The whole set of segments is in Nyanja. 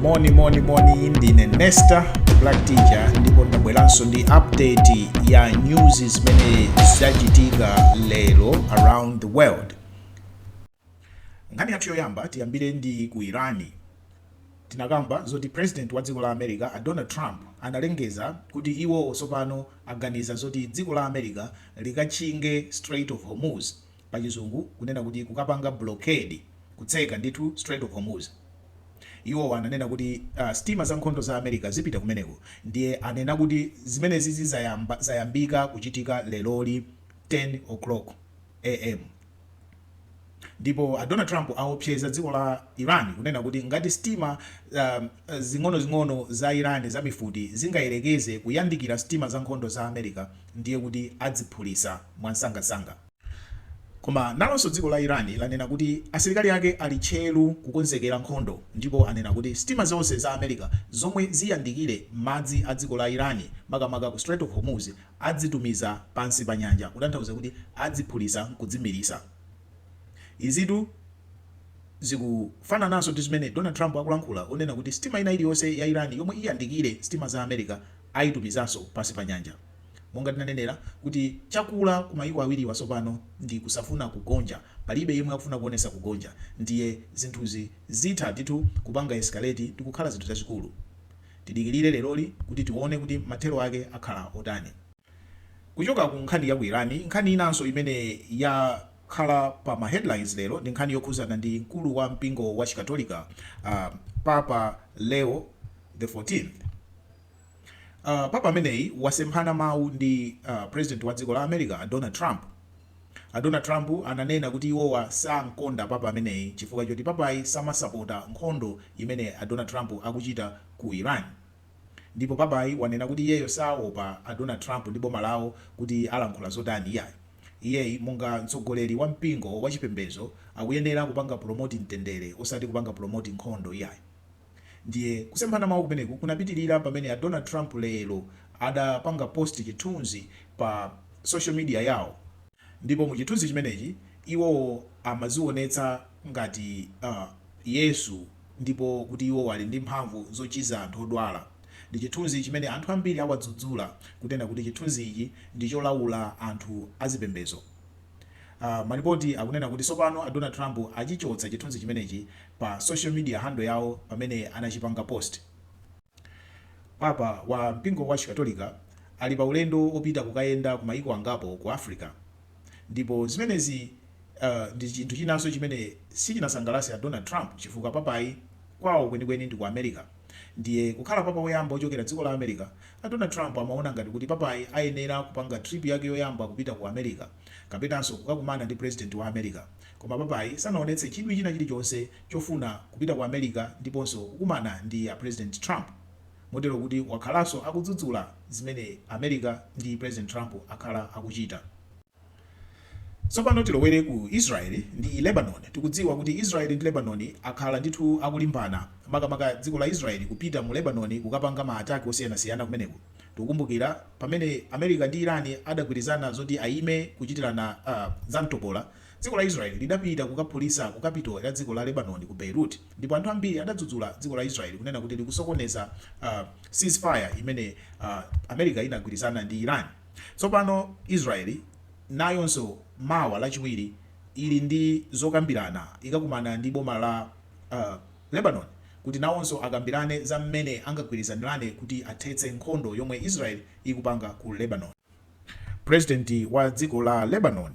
moni moni moni ndine nesta black teacher ndipo ndabweranso ndi update ya news zimene zachitika lero around the world nkhani yathu yoyamba tiyambire ndi ku Iran tinakamba zoti president wa dziko la america a donald trump analengeza kuti iwo tsopano aganiza zoti dziko la america likatchinge strait of hormuz pachizungu kunena kuti kukapanga blockade, kutseka ndithu Strait of Hormuz. Iwo ananena kuti sitima zankhondo za America zipita kumeneko ndiye anena kuti zimenezizi zayambika kuchitika leroli 10 o'clock am ndipo a Donald Trump awopseza dziko la Iran kunena kuti ngati sitima zing'onozing'ono za Iran za mifuti zingayerekeze kuyandikira sitima zankhondo za America ndiye kuti adziphulisa mwansangansanga. Koma nalonso dziko la Iran lanena kuti asilikali ake ali tcheru kukonzekera nkhondo ndipo anena kuti sitima zonse za America zomwe ziyandikire madzi a dziko la Iran makamaka ku Strait of Hormuz adzitumiza pansi pa nyanja kutanthauza kuti adziphulisa nkudzimiritsa. Izitu zikufanananso ndi zimene Donald Trump akulankhula onena kuti sitima ina iliyonse ya Iran yomwe iyandikire sitima za America aitumizanso pansi pa nyanja. Monga tinanenera, kuti chakula ku mayiko awiriwa tsopano ndi kusafuna kugonja. Palibe yemwe akufuna kuonetsa kugonja ndiye zinthuzi zitha ndithu kupanga escalate ndikukhala zinthu zazikulu. Tidikirire leroli kuti tione kuti mathero ake akhala otani. Kuchoka ku nkhani ya ku Iran, nkhani inanso imene yakhala pa ma headlines lero ndi nkhani yokhuzana ndi mkulu wa mpingo wa chikatolika Papa Leo the 14th. Papa ameneyi wasemphana mawu ndi president wa dziko la America a Donald Trump. A Donald Trump ananena kuti iwowa sankonda papa ameneyi chifukwa choti papayi samasapota nkhondo imene a Donald Trump akuchita ku Iran. Ndipo papayi wanena kuti iyeyo saopa a Donald Trump ndi boma lawo kuti alankhula zotani iyayi. Iyeyi monga mtsogoleri wa mpingo wachipembezo akuyenera kupanga promote mtendere osati kupanga promote nkhondo iyayi. Ndiye kusemphana mawu kumeneku kunapitirira pamene a Donald Trump lero adapanga post chithunzi pa social media yawo ndipo mu chithunzi chimenechi iwo amazionetsa ngati Yesu ndipo kuti iwo ali ndi mphamvu zochiza anthu odwala. Ndi chithunzi chimene anthu ambiri awadzudzula kunena kuti chithunzi ichi ndi cholaula anthu azipembezo. Malipoti akunena kuti tsopano a Donald Trump achichotsa chithunzi chimenechi pa social media handle yawo pamene anachipanga post. Papa wa mpingo wa Chikatolika ali pa ulendo opita kukayenda ku mayiko angapo ku Africa ndipo zimenezi ndi chinthu chinanso chimene sichinasangalatse a Donald Trump chifukwa Papayi kwawo kwenikweni ndi ku America. Ndiye kukhala papa woyamba wochokera dziko la America, a Donald Trump amaona ngati kuti papayi ayenera kupanga trip yake yoyamba kupita ku America kapenanso kukakumana ndi president wa America. Koma papayi sanaonetse chidwi china chilichonse chofuna kupita ku America ndiponso kukumana ndi a president Trump motero kuti wakhalanso akudzudzula zimene America ndi president Trump akhala akuchita. Tsopano tilowere ku Israeli ndi Lebanoni. Tikudziwa kuti Israeli ndi Lebanoni akhala ndithu akulimbana, makamaka dziko la Israeli kupita mu Lebanoni kukapanga ma attack osiyanasiyana kumeneko. Tikukumbukira pamene America ndi Iran adagwirizana zoti ayime kuchitirana zamtopola, dziko la Israeli lidapita kukaphulitsa ku capital ya dziko la Lebanoni ku Beirut ndipo anthu ambiri adadzudzula dziko la Israeli kunena kuti likusokoneza ceasefire imene America inagwirizana ndi Iran. Tsopano, Israeli, nayonso, mawa, Lachiwiri, ili ndi zokambirana, ikakumana ndi boma la Lebanon, kuti nawonso akambirane za mmene angagwirizanirane kuti athetse nkhondo yomwe Israeli ikupanga ku Lebanon. Purezidenti wa dziko la Lebanon,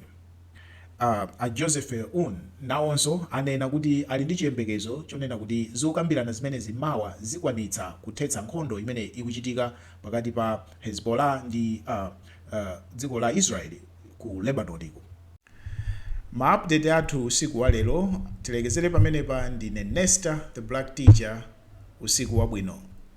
a Joseph Aoun, nawonso, anena kuti ali ndi chiyembekezo chonena kuti zokambirana zimenezi mawa zikwanitsa kuthetsa nkhondo imene ikuchitika pakati pa Hezbollah ndi dziko la Israel ku Lebanonko. Ma update athu usiku wa lero tilekezere pamenepa ndine Nesta the Black Teacher usiku wabwino.